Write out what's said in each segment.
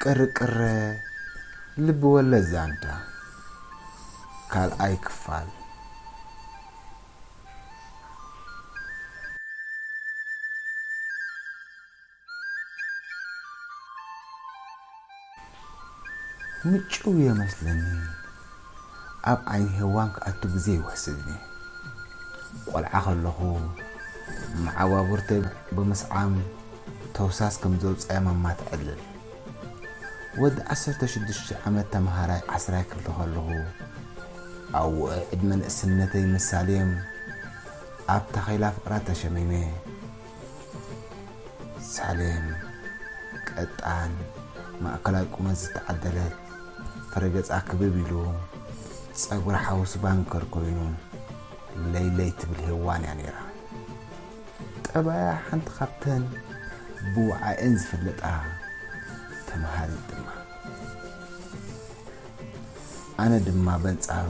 ቅርቅረ ልብ ወለድ ዛንታ ካልኣይ ክፋል። ምጭው እየ መስለኒ ኣብ ዓይኒ ሄዋን ክኣቱ ግዜ ይውሕስኒ ቆልዓ ከለኹ መዓባቡርተይ ብምስዓም ተውሳስ ከም ዘውጻያ ማማ ተዕልል ወዲ ዓሰርተ ሽዱሽተ ዓመት ተምሃራይ ዓስራይ ክፍሊ ከለኹ ኣብ ውዑይ ዕድመ ንእስነተይ ምስ ሳሌም ኣብ ታኼላ ፍቅራ ተሸሚመ ሳሌም ቀጣን ማእከላይ ቁመት ዝተዓደለት ፍረገጻ ክብብ ኢሉ ጸጉራ ሓውሲ ባንከር ኮይኑ ለይለይ ትብል ሄዋን እያ ነይራ ጠባያ ሓንቲ ካብተን ብውዓኤን ዝፍለጣ ተምሃሪት ድማ ኣነ ድማ በንጻሩ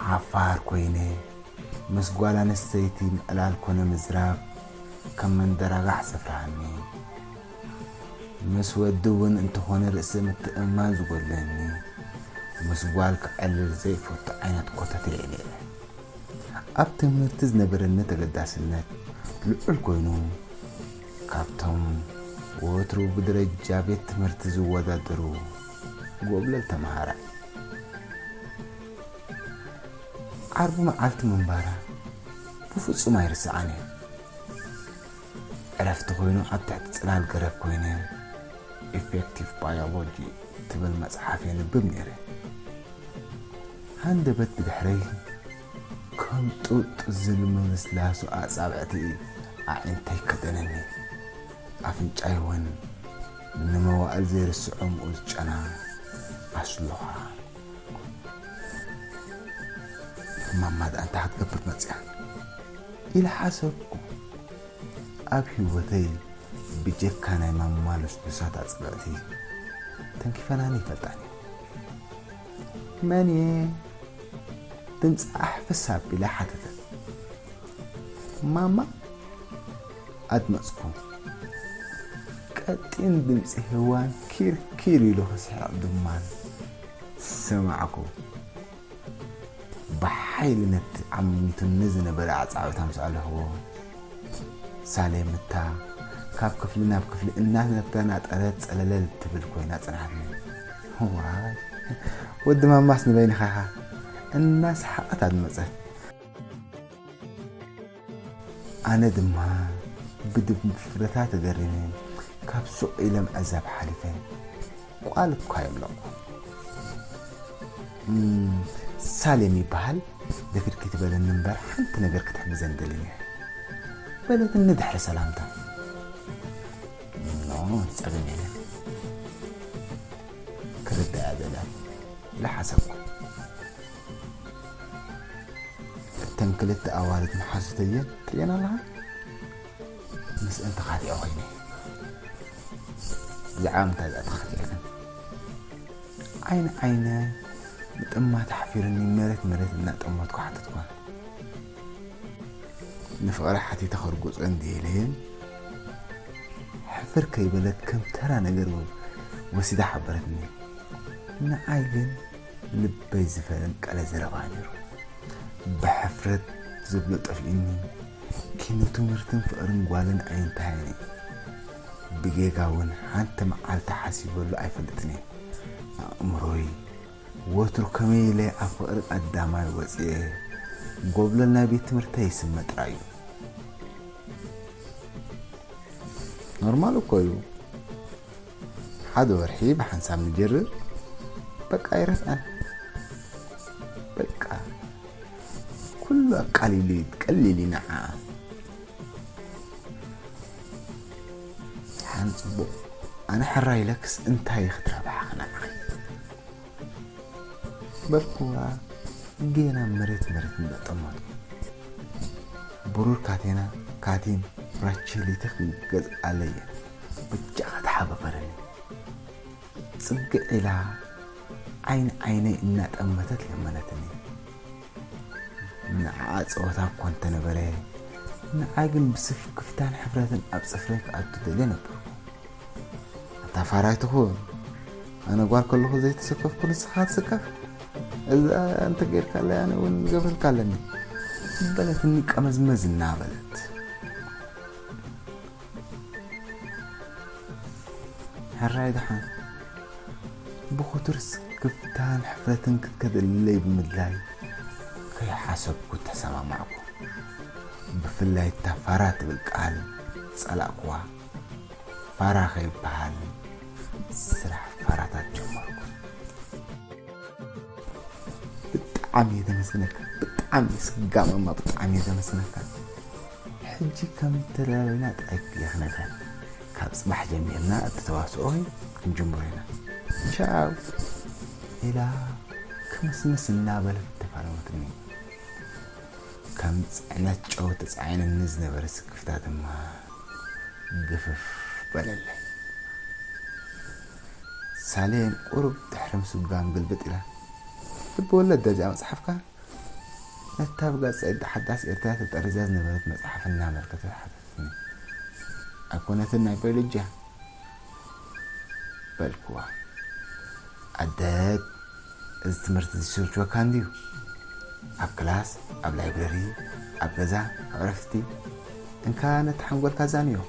ሓፋር ኮይነ ምስ ጓል ኣንስተይቲ ምዕላል ኮነ ምዝራብ ከም መንደራጋሕ ዘፍርሃኒ ምስ ወዲ ውን እንተኾነ ርእሰ ምትእምማን ዝጎድለኒ ምስ ጓል ክዕልል ዘይፈቱ ዓይነት ኮተቴ እየ ነይረ። ኣብ ትምህርቲ ዝነበረኒ ተገዳስነት ልዑል ኮይኑ ካብቶም ወትሩ ብደረጃ ቤት ትምህርቲ ዝወዳደሩ ጎብለል ተምሃራይ ዓርቢ መዓልቲ ምንባራ ብፍጹም ኣይርስዓን እየ። ዕረፍቲ ኮይኑ ኣብ ትሕቲ ጽላል ገረብ ኮይነ ኢፌክቲቭ ባዮሎጂ ትብል መጽሓፍ የንብብ ነይረ። ሃንደበት ብድሕረይ ከም ጡጥ ዝል ምምስላሱ ኣጻብዕቲ ኣዒንተይ ከደነኒ ኣፍንጫይ እውን ንመዋእል ዘይርስዖ ምኡዝ ጨና ኣስሉኻ ማማ'ድኣ እንታይ ክትገብር መጺኣ ኢለ ሓሰብኩ። ኣብ ህይወተይ ብጀካ ናይ ማማ ልስሉሳት ኣጽብዕቲ ተንኪፈናኒ ኣይፈልጣን እየን። መን'የ? ድምጻ ኣሕፍስ ኣቢላ ሓተተት። ማማ? ኣድመጽኩ። ቀጢን ድምጺ ሄዋን ኪር ኪር ኢሉ ክስሕቕ ድማ ሰማዕኩ። ብሓይሊ ነቲ ዓሚቱኒ ዝነበረ ኣጻብዕት ኣምሰኣልኹዎ። ሳሌም እታ ካብ ክፍሊ ናብ ክፍሊ እናተናጠረት ጸለለል ትብል ኮይና ጽንሓትኒ። ዋይ ወዲ ማማስ ንበይንኻ ኢኻ። እናሰሓቐት ኣድመጸት። ኣነ ድማ ብድፍረታ ተገሪመ ካብ ሱቕ ኢለ ምዕዛብ ሓሊፈ። ቋል እኳ የብለኩ። ሳሌም ይበሃል ብክድኪ ትበለኒ እምበር ሓንቲ ነገር ክትሕግዘኒ ደሊ ነይረ በለትኒ ድሕሪ ሰላምታ። ኖ ጸገም የለን ክርዳኣ ዘላ ኢለ ሓሰብኩ። እተን ክልተ ኣዋልድ መሓዙተየን ትርእየን ኣለኻ? ምስእን ተኻቲዐ ኮይነ እየ። ብዛዕባ ምንታይ እዚኣ ተኻቲዐክን? ዓይኒ ዓይነ ምጥማት ኣሕፊሩኒ መሬት መሬት እናጠመትኩ ሓተትኳን። ንፍቕረ ሓቲተ ከርጉፆ እንድየ ኢለየን ሕፍር ከይበለት ከም ተራ ነገር ወሲዳ ሓበረትኒ። ንዓይ ግን ልበይ ዝፈንቀለ ዘረባ ነይሩ። ብሕፍረት ዝብሎ ጠፊኡኒ፣ ኪኖ ትምህርትን ፍቕርን ጓልን ኣይንተሃየን እዩ። ብጌጋ እውን ሓንቲ መዓልቲ ሓሲበሉ ኣይፈልጥን እየ። ኣእምሮይ ወትሩ ከመይ ኢለ ኣብ ፍቕሪ ቀዳማይ ወጺኤ ጎብለል ናይ ቤት ትምህርተይ ይስመ ጥራይ እዩ። ኖርማል እኮ እዩ። ሓደ ወርሒ ብሓንሳብ ንጅርር በቃ ኣይረፍዐን በቃ ኩሉ ኣቃሊሉ እዩ ቀሊል እዩ ንዓኣ ሓን ፅቡቕ ኣነ ሕራይ ኢለክስ እንታይ እዩ ክትረብሓ ንዓይ በልኩዋ ጌና መሬት መሬት እንዳጠመቱ ብሩር ካቴና ካቲም ብራችሊትኽ ገዝኣለየ ብጃኻ ተሓባበረኒ ፅግዕ ኢላ ዓይኒ ዓይነይ እናጠመተት ለመነትኒ ንዓኣ ፀወታ እኳ እንተነበረ ንዓ ግን ብስፍክፍታን ሕፍረትን ኣብ ፅፍረይ ክኣቱ ደልየ ነበርኩ ኣታ ፋራ ኣይትኹን ኣነ ጓል ከለኹ ዘይተሰከፍኩ ንስኻ ትስከፍ እዛ እንተጌርካለይ ኣነ እውን ገብረልካ ኣለኒ በለትኒ ቀመዝመዝ እናበለት ሕራይ ደሓን ብኹቱር ስክፍታን ሕፍረትን ክትከደልለይ ብምድላይ ከይሓሰብኩ ተሰማማዕኩ። ብፍላይ እታ ፋራ ትብል ቃል ጸላእኩዋ። ፋራ ከይበሃል ስራሕ ፋራታት ጀመርኩ። ብጣዕሚ እየ ዘመስግነካ ብጣዕሚ ስጋመማ ብጣዕሚ እየ ዘመስግነካ ሕጂ ከም ዝተደላደለና ጥራይ የኽነፈን ካብ ጽባሕ ጀሚርና እቲ ተዋስኦ ክንጅምሮ ኢና ቻው ኢላ ክምስምስ እናበለት ተፋነወትኒ። ከም ጽዕነት ጨው ተጻዒኑኒ ዝነበረ ስክፍታ ድማ ግፍፍ በለለይ። ሳሌም ቁሩብ ድሕሪ ምስጓም ግልብጥ ኢላ ልብ ወለድ ደዚኣ ምጽሓፍካ? ነታ ኣብ ጋዜጣ ሓዳስ ኤርትራ ተጠሪዛ ዝነበረት መጽሓፍ እናመልከተት ሓተተትኒ። ኣይኮነትን ናይ ባይሎጂ'ያ። በልክዋ። ኣደ እዚ ትምህርቲ ዝስልችወካ እንድዩ። ኣብ ክላስ፣ ኣብ ላይብረሪ፣ ኣብ ገዛ፣ ኣብ ዕረፍቲ እንካ ነቲ ሓንጎልካ ዛንዮ።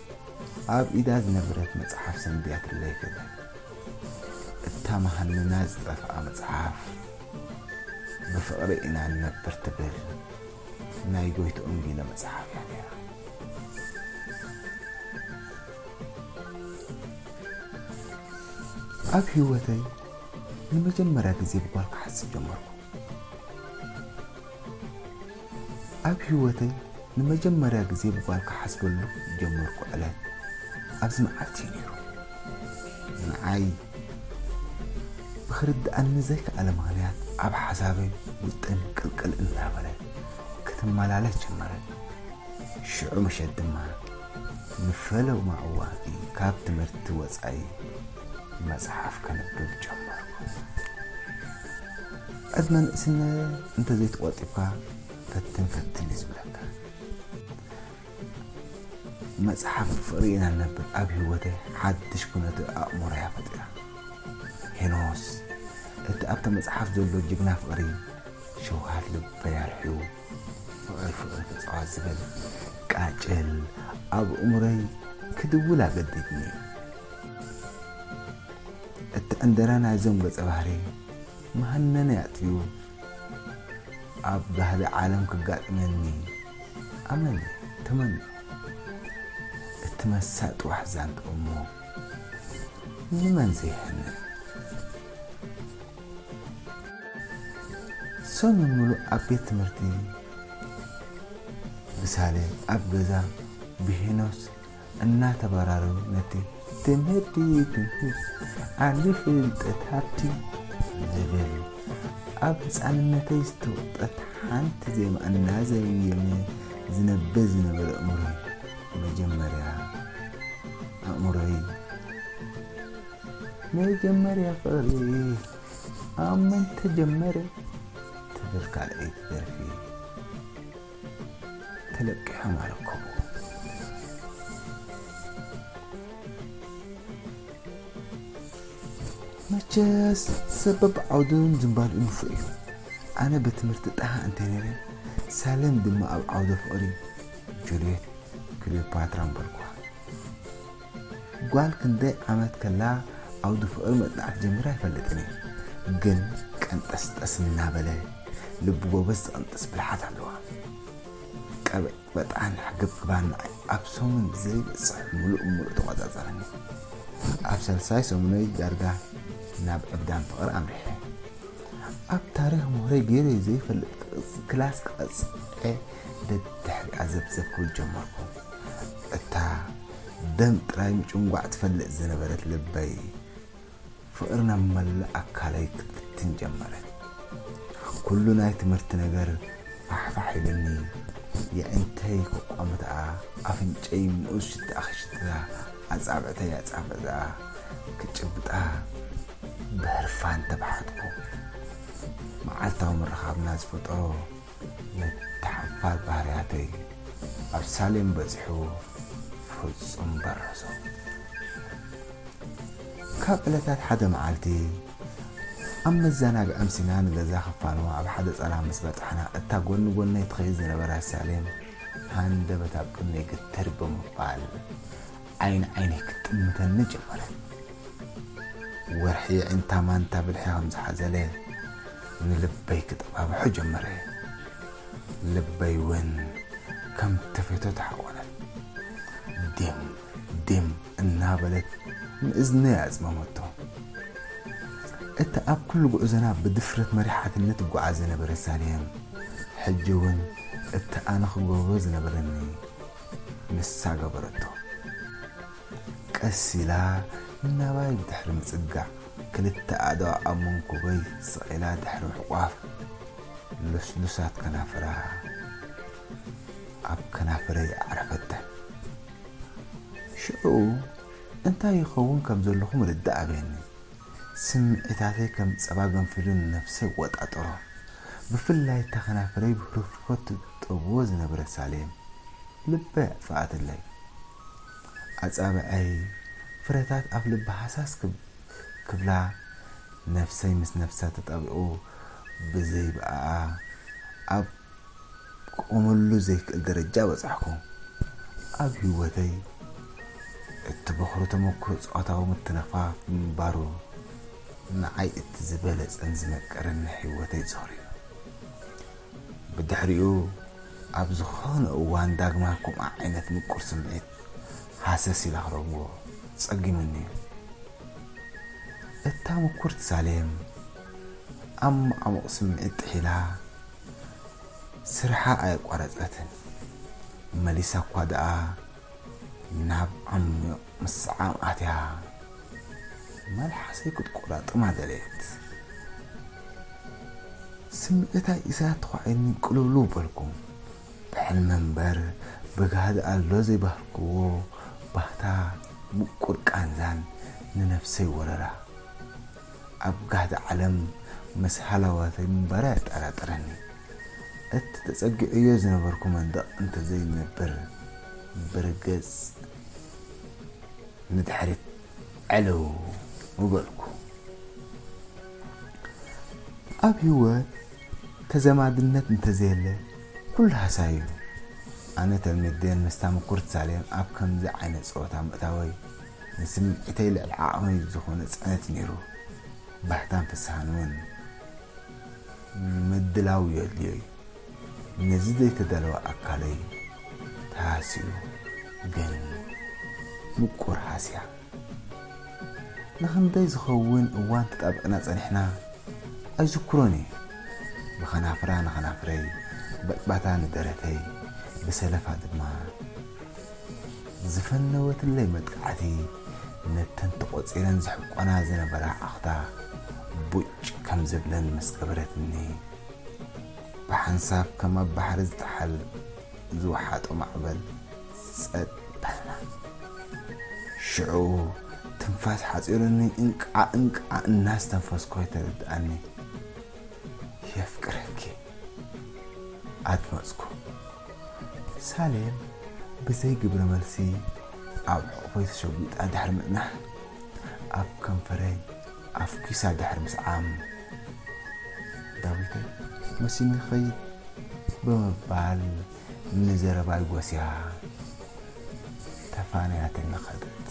ኣብ ኢዳ ዝነበረት መጽሓፍ ሰንቢያትለይ ከደት። እታ መሃንና ዝጠፍኣ መጽሓፍ። ብፍቕሪ ኢና ንነብር ትብል ናይ ጎይትኦም ጊለ መጽሓፍ እያ ነይራ። ኣብ ህይወተይ ንመጀመርያ ግዜ ብጓል ክሓስብ ጀመርኩ። ኣብ ህይወተይ ንመጀመርያ ግዜ ብጓል ክሓስበሉ ዝጀመርኩ ዕለት ኣብዚ መዓልቲ እዩ ነይሩ። ንዓይ ብክርድኣኒ ዘይከኣለ ምኽንያት ኣብ ሓሳብን ውጥን ቅልቅል እናበለት ክትመላለስ ጀመረት። ሽዑ ምሸት ድማ ንፈለማ እዋን'ቲ ካብ ትምህርቲ ወጻኢ መጽሓፍ ከንብብ ጀመርኩ። ዕድመ ንእስነት እንተዘይተቖጢብካ ፈትን ፈትን እዩ ዝብለካ። መጽሓፍ ፍቕሪ ኢና እነብር ኣብ ህይወተይ ሓድሽ ኩነተ ኣእምሮ እያ ፈጢራ። ሄኖስ እቲ ኣብታ መጽሓፍ ዘሎ ጅግና ፍቕሪ ሸውሃት ልበይ ኣርሕዩ ፍቕሪ ፍቕሪ ተጻዋት ዝብል ቃጭል ኣብ ኣእምሮይ ክድውል ኣገዲድኒ እዩ። እቲ ዕንደራ ናይዞም ገጸ ባህሪ መሃነነ ኣጥፊኡ ኣብ ባህሊ ዓለም ክጋጥመኒ ኣመነ ተመንዮ እቲ መሳጢ ዋሕዛንት እሞ ንመን ዘይሕነን። ሰሙን ምሉእ ኣብ ቤት ትምህርቲ ብሳሌ ኣብ ገዛ ብሄኖስ እናተበራረሩ ነቲ ትምህርቲ ትምህርት ዓቢ ፍልጠት ሃብቲ ዝብል ኣብ ህጻንነተይ ዝተወቕጠት ሓንቲ ዜማ እናዘየመ ዝነብር ዝነበረ ኣእምሮይ መጀመርያ ኣእምሮይ መጀመርያ ፍቕሪ ኣብ መን ተጀመረ ትብል ካልኣይቲ ደርፊ ተለቂሖም ኣረከቡ። መቸስ ሰብ በብዓውዱን ዝምባልኡን ንፉዕ እዩ። ኣነ ብትምህርቲ ጠሃ እንተ ነይረ፣ ሳሌም ድማ ኣብ ዓውደ ፍቕሪ ጁልየት ክልዮፓትራ ምበልኩዋ። ጓል ክንደይ ዓመት ከላ ዓውዲ ፍቕሪ መጽናዕቲ ጀሚራ ኣይፈልጥን እየ ግን ቀንጠስጠስ እናበለ ልቢ ጎበዝ ዝቕንጥስ ብልሓት ኣለዋ ቀበጥበጣን ሕግብግባን ንዓይ ኣብ ሰሙን ዘይበጽሕ ምሉእ ብምሉእ ተቖጻጸረኒ ኣብ ሳልሳይ ሰሙነይ ዳርጋ ናብ ዕብዳን ፍቕሪ ኣምሪሐ ኣብ ታሪኽ ምሁረይ ገይረይ ዘይፈልጥ ክላስ ክቐጽዐ ደድሕሪኣ ዘብዘብ ክብል ጀመርኩ እታ ደም ጥራይ ምጭንጓዕ ትፈልጥ ዝነበረት ልበይ ፍቕሪ ናብ መላእ ኣካለይ ክትብትን ጀመረት። ኩሉ ናይ ትምህርቲ ነገር ፋሕፋሕ ኢሉኒ፣ የዒንተይ ከቋምትኣ፣ ኣፍንጨይ ምኡዝ ሽትኣ ክሽትታ፣ ኣጻብዕተይ ኣጻብዕትኣ ክጭብጣ ብህርፋን ተባሓትኩ። መዓልታዊ ምርኻብና ዝፈጠሮ ንተሓባእ ባርያተይ ኣብ ሳሌም በጺሑ ፍጹም በረሶ። ካብ ዕለታት ሓደ መዓልቲ ኣብ መዛናግዒ ኣምሲና ንገዛ ክፋኖ ኣብ ሓደ ጸላም ምስ በጻሕና እታ ጎኒ ጎነይ ትኸይድ ዝነበረት ሳሌም ሃንደበት ኣብ ቅድመይ ግትር ብምባል ዓይኒ ዓይነይ ክትጥምተኒ ጀመረት። ወርሒ የዒንታ ማንታ ብልሒ ከም ዝሓዘለ ንልበይ ክጠባብሖ ጀመረ። ልበይ እውን ከም ተፌቶ ተሓቆነት። ዲም ዲም እናበለት ንእዝነይ ኣጽመመቶ። እታ ኣብ ኩሉ ጉዕዞና ብድፍረት መሪሓትኒ ትጓዓዝ ዝነበረት ሳሌም፣ ሕጂ እውን እታ ኣነ ክገብሮ ዝነበረኒ፣ ንሳ ገበረቶ። ቀስ ኢላ ናባይ ብድሕሪ ምጽጋዕ ክልተ ኣእዳዋ ኣብ መንኩበይ ሰቒላ ድሕሪ ምሕቋፍ ልስሉሳት ከናፍራ ኣብ ከናፍረይ ኣዕረፈተን። ሽዑ እንታይ ይኸውን ከም ዘለኹ ምርዳእ ኣብየኒ። ስምዒታተይ ከም ጸባ ገንፊሉ ንነብሰይ እቆጣጠሮ። ብፍላይ እታ ከናፍረይ ብህርፍፎ ትጠብዎ ዝነበረት ሳሌም ልበይ ኣጥፈኣትለይ። ኣጻብዐይ ፍረታት ኣፍልባ ሃሳስ ክብላ ነብሰይ ምስ ነብሳ ተጣቢቑ ብዘይብኣኣ ኣብ ክቆመሉ ዘይክእል ደረጃ በጻሕኩ። ኣብ ህይወተይ እቲ በዅሪ ተመኵሮ ጾታዊ ምትንኻፍ ምንባሩ ንዓይ እቲ ዝበለጸን ዝመቀረን ናይ ህይወተይ ጾር'ዩ። ብድሕሪኡ ኣብ ዝዀነ እዋን ዳግማይ ከምኡ ዓይነት ምቁር ስምዒት ሃሰስ ኢላ ክረኽቦ ጸጊሙኒ'ዩ። እታ ምኵርቲ ሳሌም፣ ኣብ መዓሙቕ ስምዒት ጥሒላ ስርሓ ኣየቋረጸትን። መሊሳ እኳ ደኣ ናብ ዓሚቕ ምስዓም ኣትያ መልሓሰይ ክትቆራጥማ ደለየት። ስምዒታ ኢሳያስ ተዃዒኒ ቅልውልው በልኩ። ብሕልሚ እምበር ብጋህዲ ኣሎ ዘይበሃልክዎ ባህታ ምቁር ቃንዛን ንነፍሰይ ወረራ። ኣብ ጋህዲ ዓለም ምስ ሃላዋተይ ምንባረይ ኣየጠራጥረኒ። እቲ ተጸጊዐዮ ዝነበርኩ መንደቕ እንተዘይነብር ብርግጽ ንድሕሪት ዕልው ምበልኩ። ኣብ ህይወት ተዘማድነት እንተዘየለ ኩሉ ሃሳይ'ዩ። ኣነ ተልሚዴን ምስ ታምኩርት ሳሌን ኣብ ከምዚ ዓይነት ጸወታ ምእታወይ፣ ንስምዒተይ ልዕሊ ዓቕመይ ዝኾነ ፅዕነት እዩ ነይሩ። ባህታን ፍስሃን እውን ምድላው የድልዮ እዩ። ነዚ ዘይተዳለወ ኣካለይ ተሃስዩ ግን ምቁር ሃስያ። ንኽንደይ ዝኸውን እዋን ተጣቢቕና ፀኒሕና ኣይዝክሮን እየ። ብኸናፍራ ንኸናፍረይ፣ ብዕባታ ንደረተይ፣ ብሰለፋ ድማ ዝፈነወትለይ መጥቃዕቲ ነተን ተቖጺረን ዝሕቆና ዝነበራ ኣኽታ ቡጭ ከም ዝብለን ምስ ገበረትኒ፣ ብሓንሳብ ከም ኣብ ባሕሪ ዝጠሓል ዝወሓጦ ማዕበል ጸጥ በልና። ሽዑ ትንፋስ ሓጺሩኒ እንቃዕ እንቃዕ እናስተንፈስኩ ኣይተረድኣኒ። የፍቅረኪ ኣድመጽኩ ሳሌም ብዘይ ግብረ መልሲ ኣብ ሕቑፈይ ተሸጒጣ ድሕሪ ምጽናሕ ኣብ ከንፈረይ ኣፍኪሳ ድሕሪ ምስዓም ዳዊተይ መሲኒ ኸይድ ብምባል ንዘረባይ ጎስያ ተፋንያትኒ ኸደት።